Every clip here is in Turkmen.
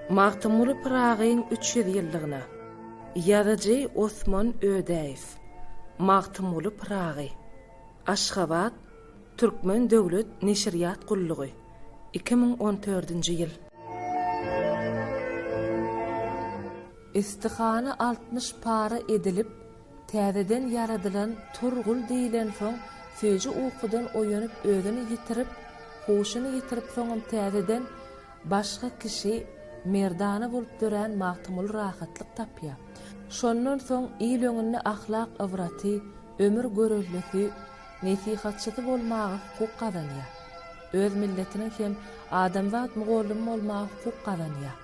Magtymguly Pyragyň üç ýüz ýyllygyna Ýazyjy Osman Ödäýew Magtymguly Pyragy Aşgabat, Türkmen döwlet neşirýat gullugy, iki müň on dördünji ýyl. Istihana altmyş para edilip, Täzeden ýaradylan Turgul diýlensoň, süýji ukudan oýanyp özüni ýitirip, huşuny ýitirip soňam täzeden başga kişi, merdana bolup dörän Magtymguly rahatlyk tapýar. Şondan soň il öňünde ahlak ybraty, ömür göreldesi, nesihatçysy bolmaga hukuk gazanýar. Öz milletiniň hem adamzat mugallymy bolmaga hukuk gazanýar.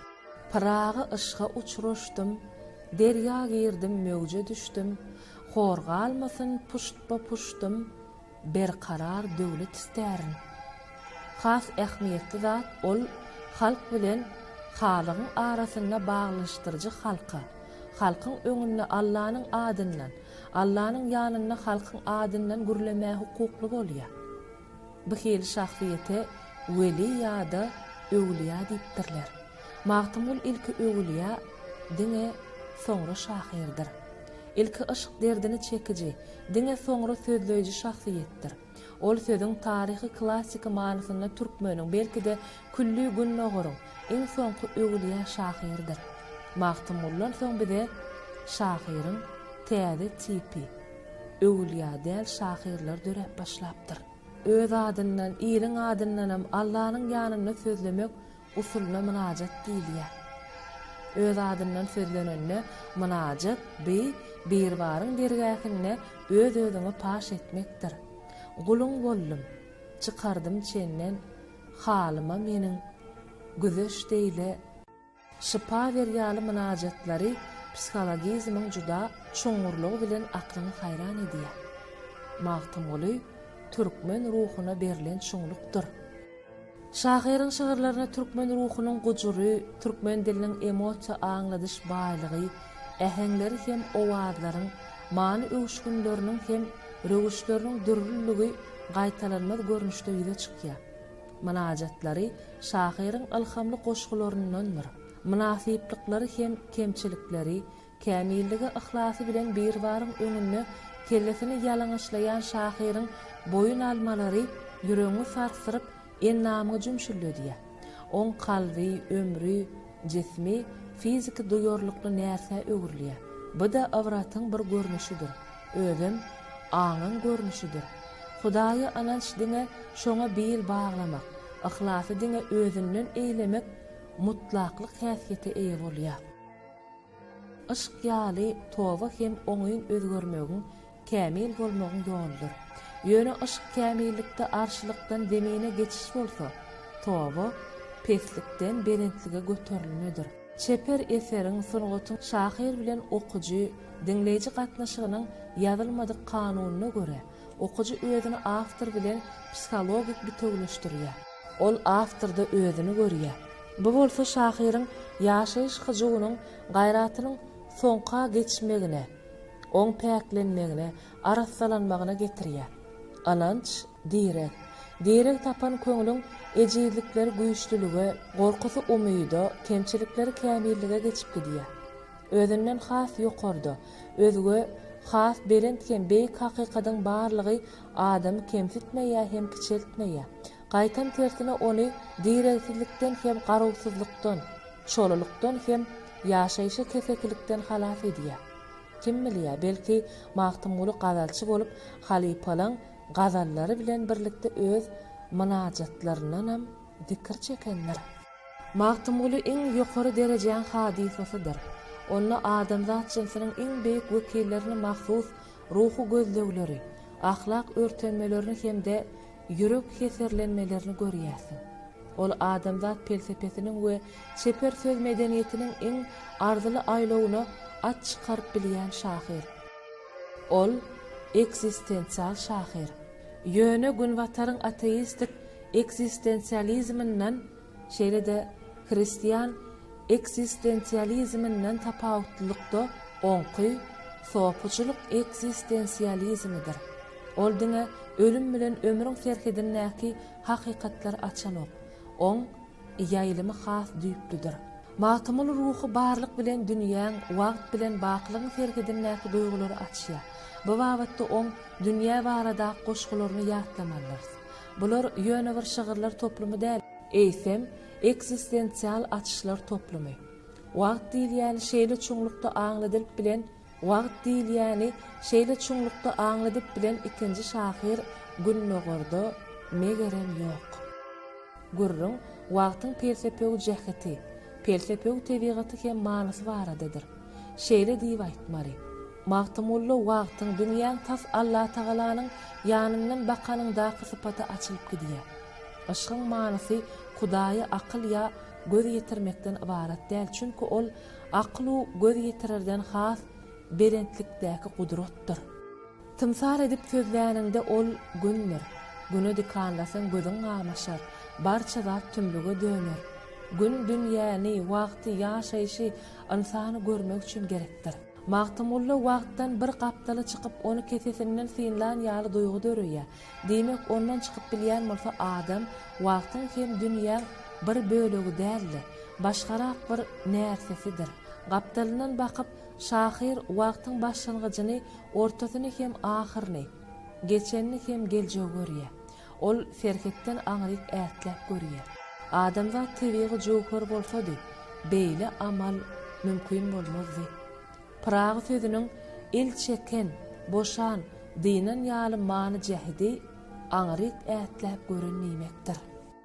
Pyragy yşga uçraşdym, Derýa girdim, möwje düşdüm, Hor galmasyn puştba-puştym, Berkarar döwlet istärin. Has ähmiýetli zat, ol halk bilen halygyň arasynda baglanyşdyryjy halka, halkyň öňünde Allanyň adyndan, Allanyň ýanynda halkyň adyndan gürlemäge hukukly bolýar. Bu hili şahsyýete weli ýa-da öwlüýä diýipdirler. Magtymgul ilki öwlüýä, diňe soňra şahyrdyr. Ilki yşk derdini çekiji, diňe soňra sözleýji şahsyýetdir. Ol sözüň taryhy klassyky manysynda türkmeniň, belki-de, külli Gündogaryň iň soňky öwlüýä şahyrydyr. Magtymguldan soň bize şahyryň täze tipi, Öwülýa däl şahyrlar döräp başlapdyr. Öz adyndan, iliň adyndanam Allanyň ýanynda sözlemek usulyna mynajat diýilýär. Öz adyndan sözlenende mynajat bi, Biribaryň dergähinde öz-özüňi paş etmekdir. Guluň boldum, çykardym çenden, halyma meniň, Güzeş deýle, Şypa ber ýaly mynajatlary psihologizmiň juda çuňňurlygy bilen aklyňy haýran edýär. Magtymguly türkmen ruhuna berlen çuňlukdyr. Şahyryň şygyrlaryna türkmen ruhunyň gujury, türkmen diliniň emosiýa aňladyş baýlygy, äheňleri hem owazlaryň many öwüşginleriniň hem röwüşleriniň dürlüligi gaýtalanmaz görnüşde ýüze çykýar. Mynajatlary şahyryň ylhamly goşgularyndandyr. Mynasyplyklary hem kemçilikleri, kämilligi yhlasy bilen Biribaryň öňünde kellesini ýalaňaçlaýan şahyryň boýun almalary ýüregiňi sarsdyryp, endamyňy jümşüldedýär. Oň kalby, ömri, jismi fiziki duýarlykly närsä öwrülýär. Bu-da ybratyň bir görnüşidir. Özem aňyň görnüşidir. Hudaýa ynanç diňe şoňa bil baglamak, yhlasy diňe özünden eýlemek mutlaklyk häsiýete eýe bolýar. Yşk ýaly toba hem oňyn özgermegiň, kämil bolmagyň ýoludyr. Ýöne yşk kämillikde arşylykdan zemine geçiş bolsa, toba peslikden belentlige göterilmedir. Çeper eseriň, sungatyň şahyr bilen okyjy, diňleýji gatnaşygynyň ýazylmadyk kanunyna görä, okyjy özüni awtor bilen psihologik bitewüleşdirýär. Ol awtorda özüni görýär. Bu bolsa şahyryň ýaşaýyş hyjuwynyň, gaýratynyň soňka geçmegine, oň päklenmegine, arassalanmagyna getirýär. Ynanç, direg. Direg tapan köňlüň ejizlikleri güýçlülige, gorkusy umyda, kemçilikleri kämillige geçip gidýär. Özünden has ýokarda, özge has belent hem beýik hakykadyň barlygy adamy kemsitmeýär hem kiçeltmeýär. Gaýtam tersine ony diregsizlikden hem garawsyzlykdan, çolulykdan hem ýaşaýşa kesekilikden halas edýär. Kim bilýär, belki, Magtymguly gazalçy bolup, halypalaň gazallary bilen birlikde öz mynajatlaryndanam zikir çekendir. Magtymguly iň ýokary derejäň hadysasydyr. Onda adamzat jynsiniň iň beýik wekillerine mahsus ruhy gözlegleri, ahlak örtenmelerini hem-de Ýürek heserlenmelerini görýärsiň. Ol adamzat pelsepesiniň we çeper söz medeniýetiniň iň arzyly aýlawyna at çykaryp bilýän şahyr. Ol, ekzistensial şahyr. Ýöne Günbataryň ateistik ekzistensializminden Şeýle-de, hristian eksistensializminden tapawutlylykda oňky sopuçylyk eksistensializmidir. Ol diňe ölüm bilen ömrüň serhedindäki hakykatlary açanok. Oň ýaýlymy has düýplüdir. Magtymguly ruhy barlyk bilen dünýäň, wagt bilen bakylygyň serhedindäki duýgulary açýar. Bu babatda oň dünýä baradaky goşgularyny ýatlamalydyrys. Bular ýöne bir şygyrlar toplumy däl, eýsem, ekzistensial açyşlar toplumy. Wagt diýilýäni şeýle çuňlukda aňladylyp bilen Wagt diýilýäni şeýle çuňlukda aňladyp bilen ikinji şahyr Gündogarda, megerem, ýok. Gürrüň wagtyň pelsepewü jäheti, pelsepewü tebigaty hem manysy baradadyr. Şeýle diýip aýtmaly, Magtymgulla wagtyň, dünýäň tas Allatagalanyň ýanyndan bakanyňdaky sypaty açylyp gidýär. Yşgyň manysy Hudaýa akyl ýa göz ýetirmekden ybarat däl, çünki ol akyl-u göz ýetirerden has belentlikdäki gudratdyr. Tymsal edip sözläniňde ol Gündür. Güne dikanlasaň gözüň gamaşar, barça zat tümlüge döner. Gün dünýäni, wagty, ýaşaýşy, Ynsany görmek üçin gerekdir. Magtymgulla wagtdan bir gapdala çykyp ony kesesinden synlan ýaly duýgy döreýär. Diýmek ondan çykyp bilýän bolsa adam wagtyň hem dünýäň bir bölegi däl-de, başgarak bir närsesidir. Gapdalyndan bakyp şahyr wagtyň başlangyjyny, ortasyny hem ahyryny, geçenini hem geljegi görýär. Ol serhetden aňryk ätläp görýär. Adamzat tebigy jöwher bolsady, beýle amal mümkin bolmazdy. Pyragy sözüniň el çeken, boşan, dynan ýaly many-jähidi aňryk ätläp gören diýmekdir.